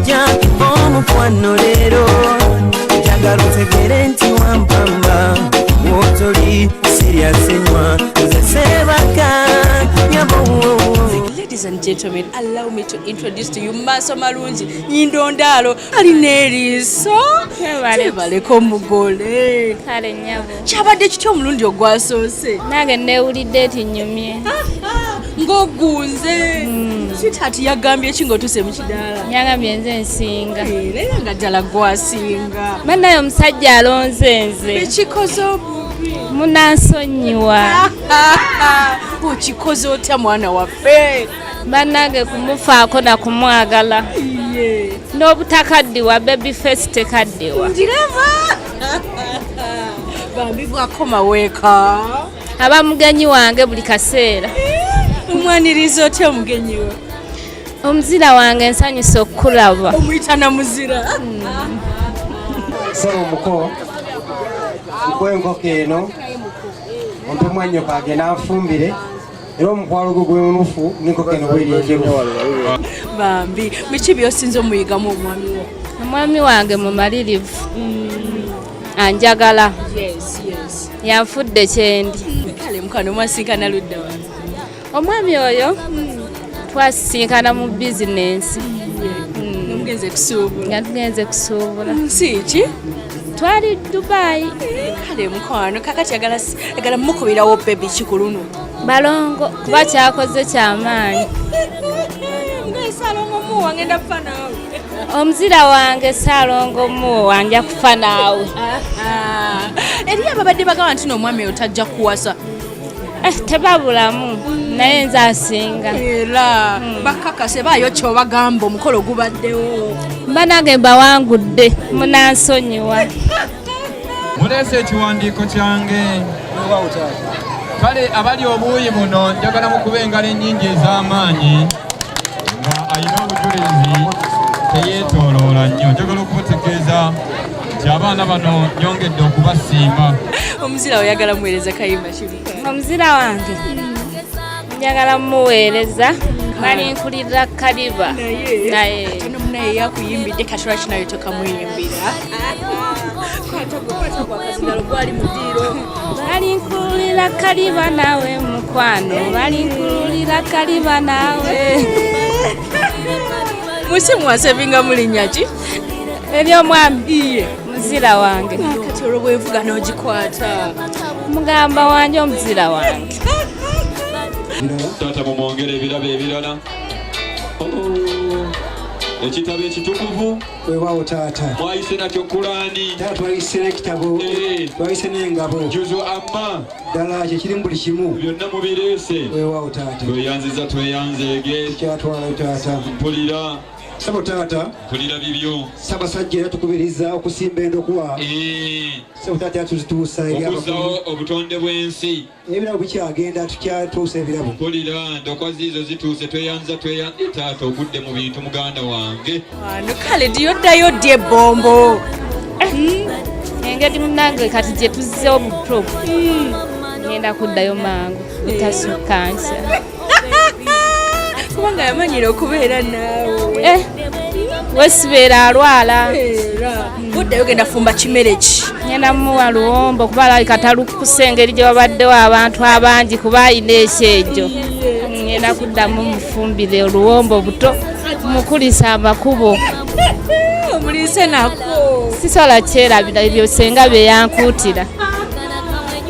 kujja omukwano leero njagala otegere nti wampamba wotoli siryasenywa nze sebaka nyabowo Ladies and gentlemen, allow me to introduce to you Maso Malungi Nyindondalo Alineriso Tebaleko mugole Kale nyabo kyabadde kitya omulundi ogwasoose nange newulidde ti nyumye ng'ogunze hmm. swithati yagambye ki ng'otuuse mu kidaala yagambye nze nsinga eh, naye nga ddala gwasinga banaye omusajja alonze nze ekikoze obubi munansonyiwa okikoze otya mwana waffe banange kumufaako na kumwagala n'obutakaddiwa baby face tekaddiwa ndiraba bambi bwakoma weeka aba mugenyi wange buli kaseera eh, omwaniriza otya omugenyi we omuzira wange nsanyusa okukulaba omuyita na muzira sebo muko nkwenkoko eno ompe mwanyoko agenda nfumbire era omukwalo gwe gwemunufu niko keno bweri enjeru bambi biki byosinza omuyigamu omwami wo omwami wange mumalirivu mm. anjagala yanfudde kyendi kale mukano mwasinkana ludda omwami oyo mm. twasisinkana mu bizinensi nga tugenze kusuubula nsi ki twali dubayi kale mukwano kakati agala mukubirawo bebi kikuluno balongo kuba kyakoze kyamaanyi omuzira wange saalongo muwo wanja kufa naawe ah, ah. eriyo ababadde bagamba nti noomwami oyo tajja kuwasa Eh, tebabulamu naye nze asinga era hmm. bakakase baayo kyobagamba omukolo gubaddewo banange mbawangudde munansonyiwa muleese ekiwandiiko kyange kale abali obuuyi buno njagala mukuba engalo ennyingi ez'amaanyi nga alina obujulizi teyeetooloola nnyo njagala okumutegeeza nti abaana bano nyongedde okubasiima omuzira oyagala muweereza kayimba kibuka omuzira wange njagala muweereza nali nkulirira kaliba naye naye yakuyimbidde katola kinayo tokamuyimbira balinkulira kaliba nawe mukwano balinkulira kaliba nawe musi mwasevinga mulinya ki ebyomwami iye muzira wange kati olwo bwevuga n'ogikwata mugamba wange omuzira wange taata mumwongere ebirabo ebirala ekitabo ekitukuvu wewawo taata mwayise nakyo kulani taata twayise nekitabo eh. twayise nengabo juzu amma ddala kyekirimu buli kimu byonna mubireese wewawo taata tweyanziza tweyanzeege kyatwalayo taata mpulira sabo taata kulira bibyo sabasajja era tukubiriza okusimba endokwa eh. sabo taata yatuzituusa okuzawo obutonde bw'ensi ebirabo bikyagenda tukyatuusa ebirabo kulira ndokwa ziizo zituuse tweyanza tweyanze taata ogudde mu bintu muganda wange wano kale diyoddayo ddy ebbombo hmm. engeri munange kati gye tuzzewo mu pro hmm. ngenda kuddayo mangu butasukkansa kubanga yamanyira okubeera naawe eh, wesibeera alwala budde yogenda fumba kimere ki ngenda muwa luwombo kuba alabika talukusa engeri gye wabaddewo abantu abangi kuba alina ekyejo ngenda kuddamu mufumbire oluwombo buto mukulisa amakubo omuliise nako sisobola kyerabira ebyo senga byeyankuutira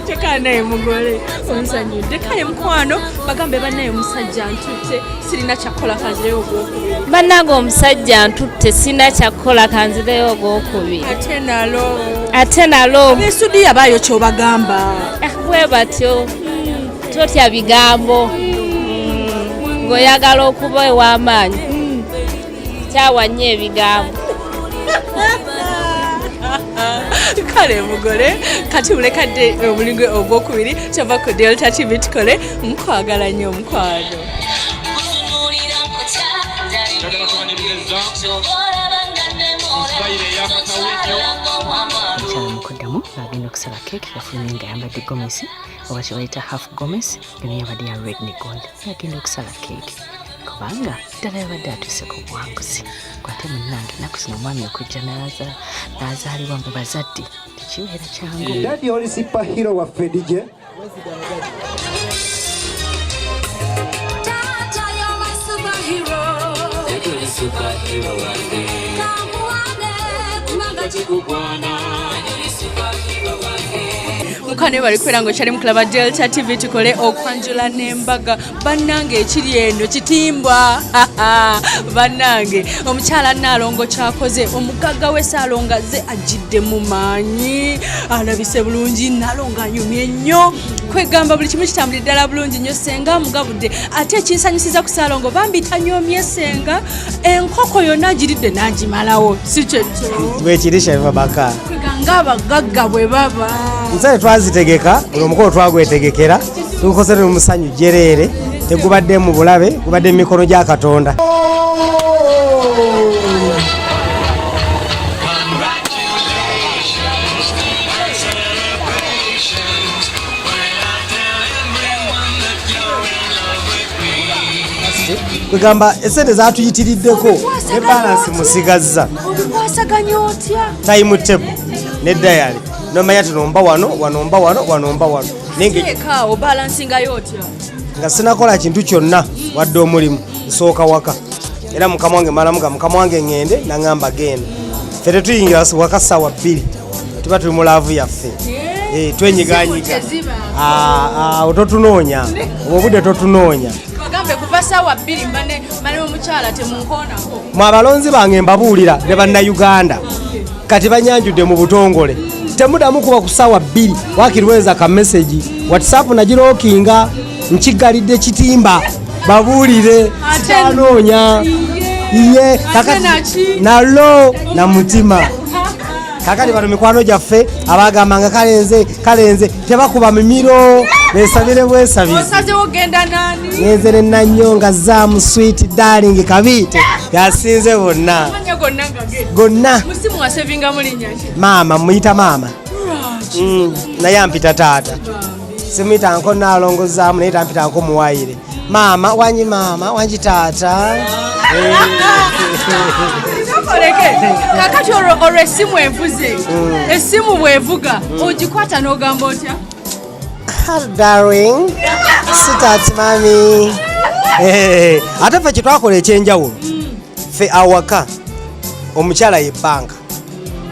teka naye mugole onsanyudde kale mukwano bagambe banaye omusajja ntutte sirina kyakukola kanzireyo ogwokubiri bannange omusajja ntutte sirina kyakukola kanzireyo ogwokubiri ate nalo ate nalo esudi yabaayo kyobagamba ah, bwe batyo hmm, totya bigambo hmm, ng'oyagala okuba ew'amaanyi kyawa nnyo ebigambo kale mugole kati mulekadde omulingo ogwokubiri kyova ku delta tv tukole mukwagala nnyo omukwano kyamukudamu agenda okusaba keeki yafulumye nga yambadde gomesi oba kyebayita half gomesi eno yabadde ya red ne gold agenda okusaba keeki kubanga ddala yabadde atuuse ku buwanguzi kwate munange naku zino omwami okujja n'azaalibwa mu bazadde tekibeera kyangu dadi oli sipa hiro waffe dj Superhero one day. Come one day, kumanga chikubwana. mukano bali kwera nga okyali mukulaba delta tv tukole okwanjula nembaga bannange ekiri eno kitimbwa bannange omukyala naalongo kyakoze omugagga we saalonga ze ajjidde mu maanyi alabise bulungi naalongo anyumye nnyo kwegamba buli kimu kitambuli ddala bulungi nnyo senga amugabudde ate ekinsanyusiza ku saalongo bambi tanyomye senga enkoko yonna agiridde n'agimalawo si kyekyo bwekiri shaiva baka nga abagagga bwe baba nsae twazitegeka buli omukolo twagwetegekera tukoze ne musanyu jereere tegubadde mu bulabe gubadde mu mikono gya katonda kwegamba esente zatuyitiriddeko ne balansi musigazza time table ne dayali nomanya tinomba wano wanomba wano wanomba wano nga sinakola kintu kyonna wadde omulimu nsooka waka era mukama wange malamuga mukama wange ŋŋende naŋamba genda fe tetuyingira waka saawa bbiri tuba tuli mu laavu yaffe eh, twenyiganyiga ah, ah, totunoonya obwo obudde totunoonya bagambe kuva saawa bbiri mbane mane omukyala temunkoonako mwe abalonzi bange mbabuulira ne bannayuganda kati banyanjudde mu butongole temudamu kuba ku saawa bbiri wakirweza ka mesegi whatsapp nagirookinga nkigalidde kitimba babuulire sitanoonya iye kakati nalo na mutima kakati bano mikwano gyaffe abagamba nga kalenze kalenze tebakuba mimiro besabire bwesabireyezere nanyo nga zamu swit daling kabiite yasinze bonna gonna maama muyita maama mm, naye ampita taata simuyita nko nalongozamu naye tampita nko muwayire maama wangi maama wangi taata kakati olwo esimu envuze hmm. esimu bwevuga hmm. ogikwata n'ogamba otya darling sitaati mami eh, ate ffe kyetwakola ekyenjawulo hmm. ffe awaka omukyala ye banka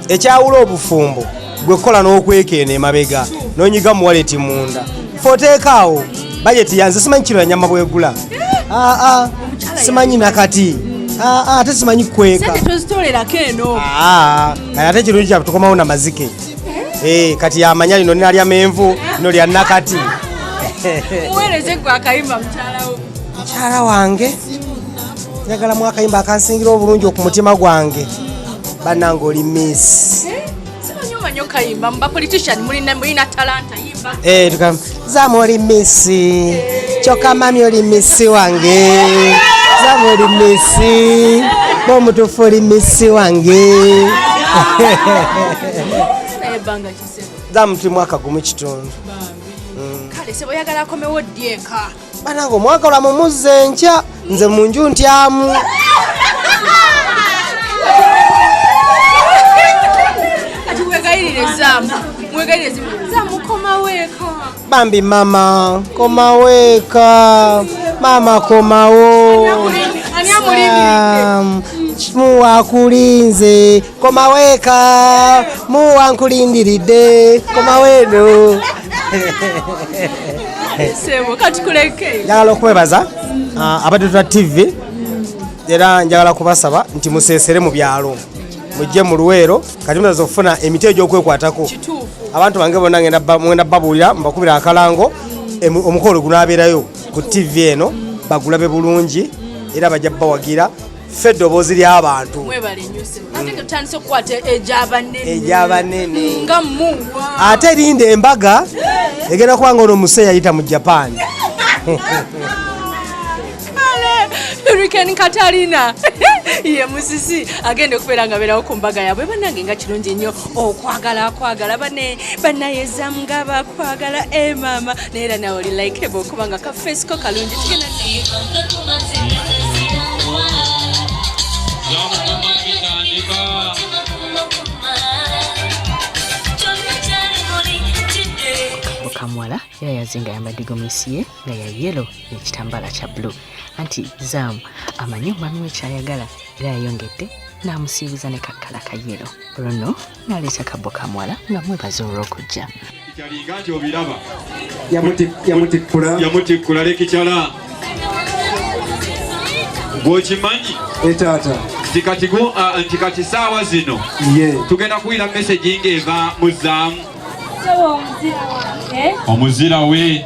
ekyawula obufumbo gwe kukola n'okwekeena emabega nonyiga muwaleti munda foteekaawo bajeti yanze simanyi kiro yanyama bwegula aa ah, ah, simanyi nakati aa ah, ate simanyi kukweka ate kirungi kyabe tukomawo na mazike eh, kati yamanya lino ninalya menvu lino lya nakati mukyala wange njagala mu akayimba akansingira obulungi ku mutima gwange bannange oli miss eh, eh, zamu oli misi kyokka mami oli misi wange zamu oli misi bomutufu oli misi wange zamu tuli mwaka gumu kitundu mm. kale seboyagala akomewo ddi eka banange omwaka lwa mumuzza enkya nze mu nju ntyamu bambi mama komaweeka mama komawo muwakulinze komaweeka muwa nkulindiridde komaweeno njagala okwebaza uh, abatetula tv era njagala kubasaba nti musesere mu byalo mujje mu luweero kati munaza okufuna emiti egyokwekwatako abantu bange bona ngenda babuulira mbakubira akalango omukolo gunabeerayo ku tv eno bagulabe bulungi era bajja bawagira ffe eddoboozi ly'abantu egyabanene ate erinda embaga egenda kuba nga ono muse yayita mu japan hurricane katalina ye musisi agenda okubeera nga beerawo ku mbaga yaabwe banange nga kirungi nnyo okwagala akwagala bane banayezamngaba akwagala e eh, maama Nera nawe oli like bo kubanga ka face ko kalungi tukena. Mukamwala yayazinga yambadde gomesi ye nga ya yelo n'ekitambaala kya blue anti zaamu amanyi omwami we kyayagala era yayongedde n'amusiibuza ne kakkala ka yelo olwo nno naleeta kabo kamwala nga mwebaza olw'okujja kyalinga nti obiraba yamutikkula lekikyala gwokimanyi etaata eh, nti kati saawa zino tugenda kuwira mesegi ng'eva mu zaamu omuzira we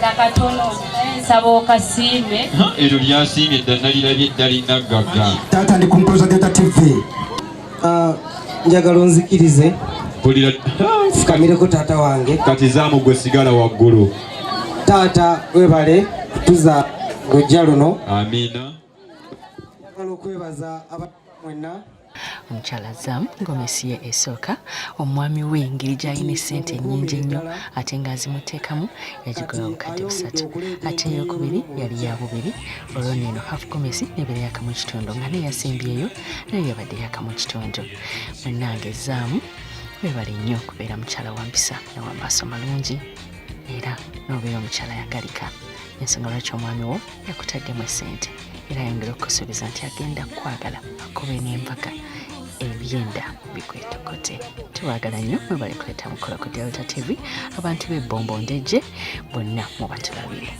nakatono nsaba okasiime eryo lyasiimye dda nalirabye eddala inaggagga taata ndi kumpuloza data tv ah, njagala onzikirize fukamireko taata wange kati zaamu gwe sigala waggulu taata webale kutuza lujja luno amiina njagala okwebaza abantu mwenna omukyala zam gomesi ye esooka omwami we engeri gyalina esente enyingi ennyo ate nga azimuteekamu yagigola obukadde busatu ate eyokubiri yali ya bubiri olwo neeno haf gomesi nebeera yakamu ekitundu nga naye yasembyeyo naye yabadde yakamu ekitundu munange zaamu webale nnyo kubeera mukyala wampisa nawamaaso malungi era nobeera omukyala yagalika ensonga lwaki omwami wo yakutaddemu esente era ayongera okukusuubiza nti agenda kukwagala akube n'empaka ebyenda bikwetokote tubagala nnyo mwebale kuleeta mukolo ku delta tv abantu b'ebbombo ndejje bonna mubatulabire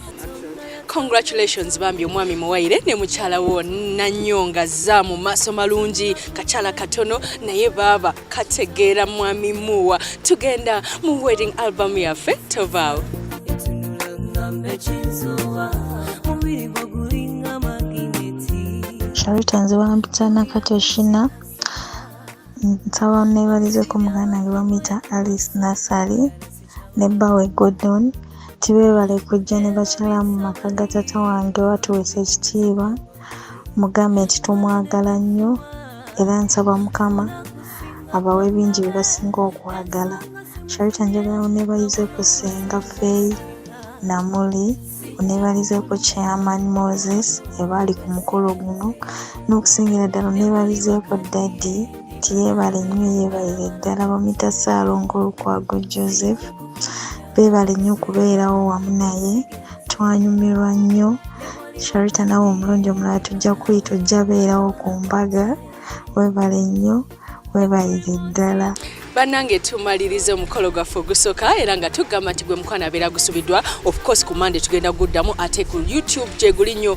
congratulations bambi omwami muwaire ne mukyala wo nanyonga za mu maaso malungi kakyala katono naye baaba kategeera mwami muwa tugenda mu wedding album yaffe tovaawo sharita nze bampita nakatoshina nsaba nebalizeko muganda nge bamuyita alice nasali ne bbawe Gordon nti beebale kujja ne bakyala mu maka ga taata wange watuweesa ekitiibwa mugambe nti tumwagala nnyo era nsaba mukama abawe bingi bye basinga okwagala sharita njagala oneebalize ku ssenga feyi namuli oneebalize ku chairman moses ebaali ku mukolo guno n'okusingira ddala oneebalize ku daddy nti yeebale nnyo yeebalire ddala bamuyita ssaalongo lukwago joseph beebale nnyo okubeerawo wamu naye twanyumirwa nnyo sharita nawe omulundi omulala tujja kuyita ojja beerawo ku mbaga weebale nnyo weebalire ddala banange tumaliriza omukolo gwaffe ogusoka era nga tugamba nti gwe mukwana abeera gusubiddwa ofcourse ku mande tugenda guddamu ate ku youtube gyeguli nnyo